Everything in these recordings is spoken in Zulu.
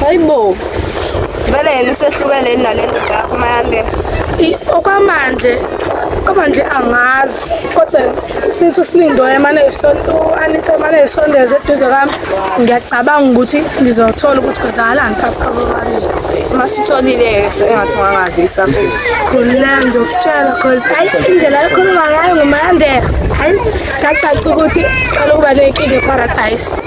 hayibo vele yena usehlukene nale ndoda yakho mayande okwamanje kodwa nje angazi kodwa since usilindoyo emane u-anita emane esondeza eduze kwami ngiyacabanga ukuthi ngizothola ukuthi kwenzakalani phakathi kwabo babili uma sitholile-ke sengathi ungangazisa khululeka ngizokutshela cause ayi indlela ekhuluma ngayo ngumayandela hayi kacaca ukuthi qala ukuba nenkinga eparadise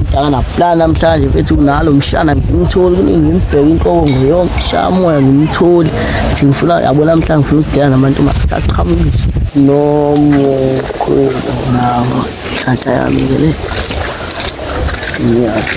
Mtaka naplana namhlanje mfethu unalo mshana ngimtholi kuningi ngimibheke inkobo ngiyonke ngishaya moya ngimtholi ngithi ngifuna yabo namhlanje ngifuna ukudela nabantu maqhaqhamuke nomukhulu nawo nhlanhla yami ke le ngiyazi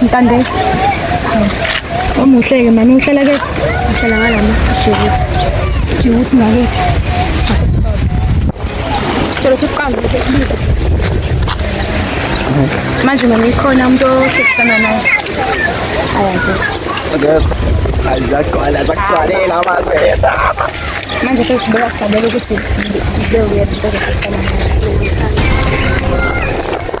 Ntande. Omuhle ke mama uhlala ke uhlala ngalama Djibouti. Djibouti ngake. Sitolo sokuqamba sesibili. Manje mama ikhona umuntu ohlekisana naye. Ayake. Akekho. Azagcwala azagcwalela abasetha. Manje ke sibeka kujabela ukuthi ngibeke uyena uzohlekisana naye.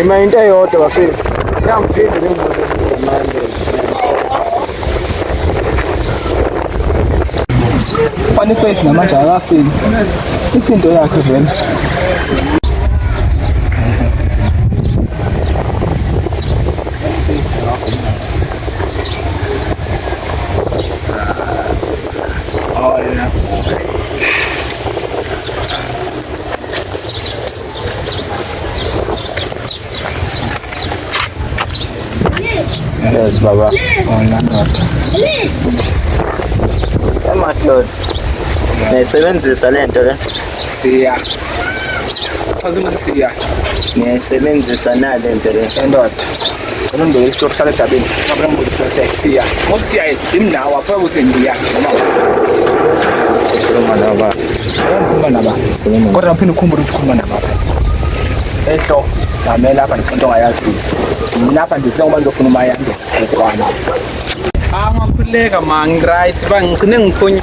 Ima into eyodwa bafethu. Ngiyamphinda ngibuze manje. Funny face namanje akafiki. Ithi into yakhe vele. Yes, Baba. Emadoda. Nayisebenzisa le nto le. Siya. Chaza ukuthi siya. Niyayisebenzisa na le nto le. Endoda. Ngicela ungibeke isitori hlala edabeni. Ngabona ngibuza ukuthi sesiya. Ngosiya indawo apha ukuthi ngiya noma ukhuluma naba. Ukhuluma naba. Kodwa uphinde ukhumbule ukuthi ukhuluma naba. Ehlo ngamela lapha ngixoxa ngayazi. Ngilapha nje sengoba ngizofuna umayande. Ekwana. Angakhuleka ma ngiright bangigcine ngiphunya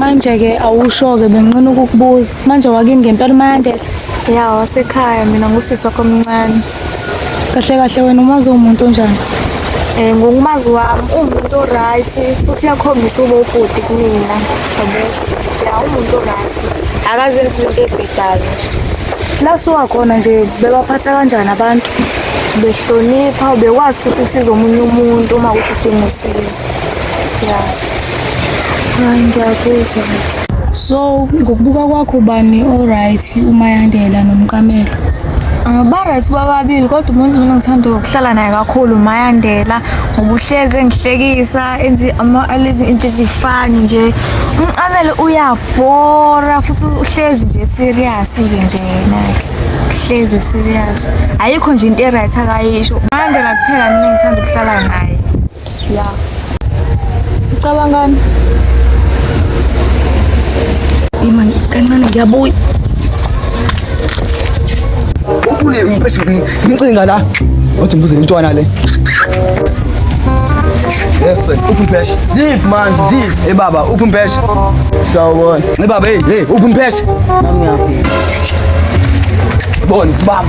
manje-ke awusho-ke benqina ukukubuza manje wakini ngempela umayandela ya wasekhaya mina ngusisi wakho omncane kahle kahle wena umazi umuntu onjani um ngokumazi wami uwumuntu o-right futhi uyakhombisa uba ubhuti kumina yabo ya uwumuntu o-right akazenzi izinto ebhedayo lasuwakhona nje bebaphatha kanjani abantu behlonipha ubekwazi futhi ukusiza omunye umuntu uma kuthi udinga usizo ya Hayi ngiyakuzwa. So ngokubuka kwakho bani alright uMayandela noMqamelo? Ah, Ba-right bababili kodwa umuntu mina ngithanda ukuhlala naye kakhulu uMayandela ngoba uhlezi engihlekisa enzi ama- alezi into ezifani nje umqamelo uyabhora futhi uhlezi nje serious-ke nje yena-ke uhlezi serious ayikho nje into e-right akayisho uMayandela kuphela mina ngithanda ukuhlala naye ya ucabangani ima kancane ngiyabuya uphule impesi ngimcinga la othi mbuze intwana le Yes sir. Ukumpesha. Zip man, zip. Hey baba, ukumpesha. Sawubona. Hey baba, hey, hey, ukumpesha. Nami ngapha. Bona, baba.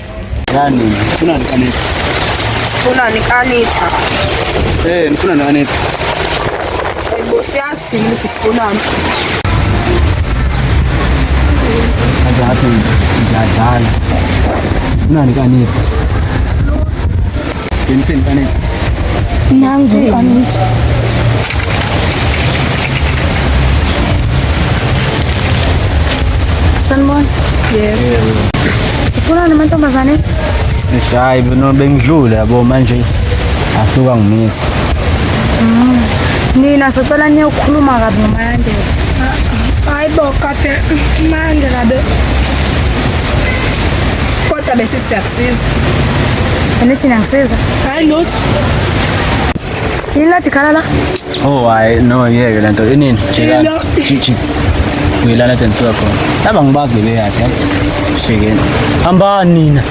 Yani, funa ni Anita. Funa ni Anita. Eh, nifuna ni Anita. Hayibo siyazi thina ukuthi sifunani. Kanti ngathi ngiyadlala. Funa ni Anita. Benzeni Anita. Nangu Anita. Sanibona. Yebo. Ufuna namantombazane? Hayi, no bengidlule yabo manje asuka ngimisa. Mm. Nina sicela niyokhuluma kabi noMandela. Hayi bo kade Mandela be. Kodwa besisiyax Siza. Anithi nangisiza. Hayi lutho. Yini la dikhala la? Oh hayi no yeke lento inini? Jika. Jiki. Uyilala tena suka khona. Laba ngibazi bebe yakhe. Shikeni. Hamba nina.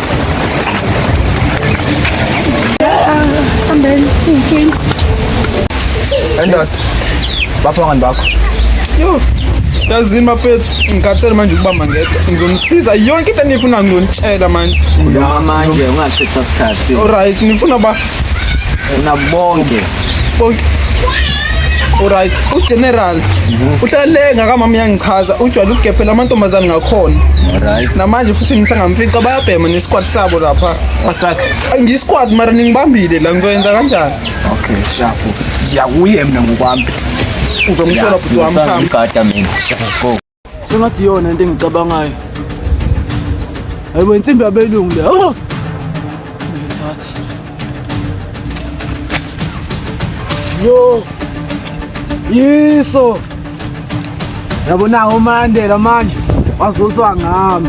Sambeni. Inkinga. Endoda. bapha ngani bakho yo yazini mafethu ngikhathele manje ukubamba ngedwa ngizomsiza yonke into enifuna ngizonitshela manje Ngama manje ungachitha isikhathi. alright nifuna ba Una bonke. bonke alright ugeneral uhlale ngakamama yangichaza ujwayele ukugepela amantombazane ngakhona Right. namanje futhi ngisangamfica bayabhema nesquad sabo lapha Wasakhe. ngisquad mara ningibambile la ngizoyenza kanjani Okay, shafu. Siyakuye mina ngokwami. Uzomthola bhuti wami cha. Ngigada mina. Go. Sengathi yona into engicabangayo. Hayibo insimbi yabelungu le. Oh! Yo. Yiso. Yabona uMandela manje wazoswa ngami.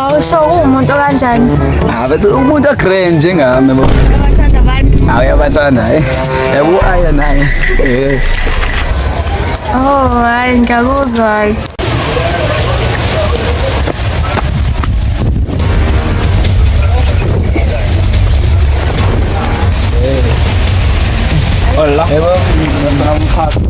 Awusho uwumuntu okanjani? Ah bese umuntu a grand njengami bo. Uyabathanda abantu. Ah uyabathanda eh. Yabo aya naye. Eh. Oh, hayi ngiyakuzwa. Hola. Yebo, ngiyasala umkhakha.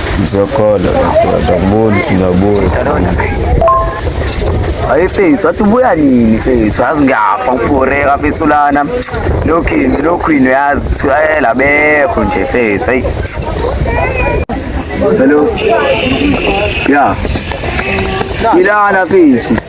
Ngizokhola ndoda kubona ukuthi ngiyabuya. Hayi fethu wathi ubuya nini fethu yazi ngiyafa ngibhoreka fethu lana lokhu yini lokhu yini yazi kuthiwa yela eh, bekho nje fethu hayi Hello. Yeah. Ilana fethu.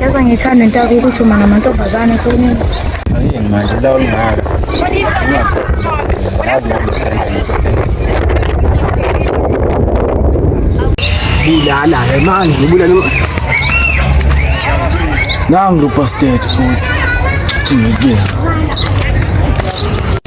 Yaza ngithanda into yakho ukuthi uma ngamantombazane kunini. Ayini manje la ulingaka. Ngazi ngokuhlala ngisohlala. Bulala ke manje ngibulala. Nangu lo bastard futhi. Thina kuye.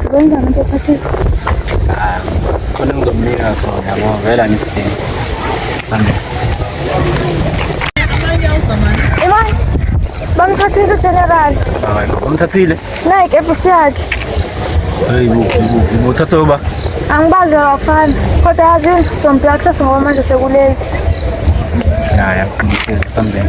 Uzokwenza into ethathe khona ngizomnika sona yabo vela ngisidinga. Sambe. Imani, bamthathile uGeneral. Hayi, ngomthathile. Nayi ikepisi yakhe. Hayi, ubuthathe uba. Angibazi abafana. Kodwa yazi sombheka kusasa ngoba manje sekulate. Ya, ya, qinisile, sambeni.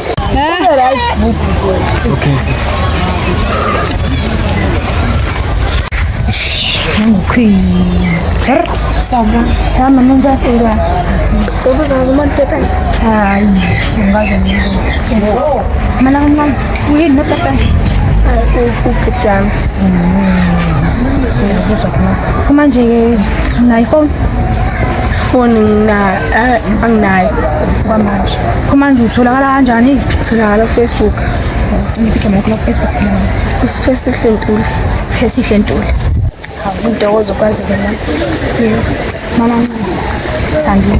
kumanje-ke nayiphone foni anginayo kwamanje Kumanje utholakala kanjani? Utholakala kuFacebook. Ngiphikhema yakho kuFacebook. Isiphesi sihle ntuli. Isiphesi sihle ntuli. Hawu intokozo kwazi ke la. Mama ncane. Sandile.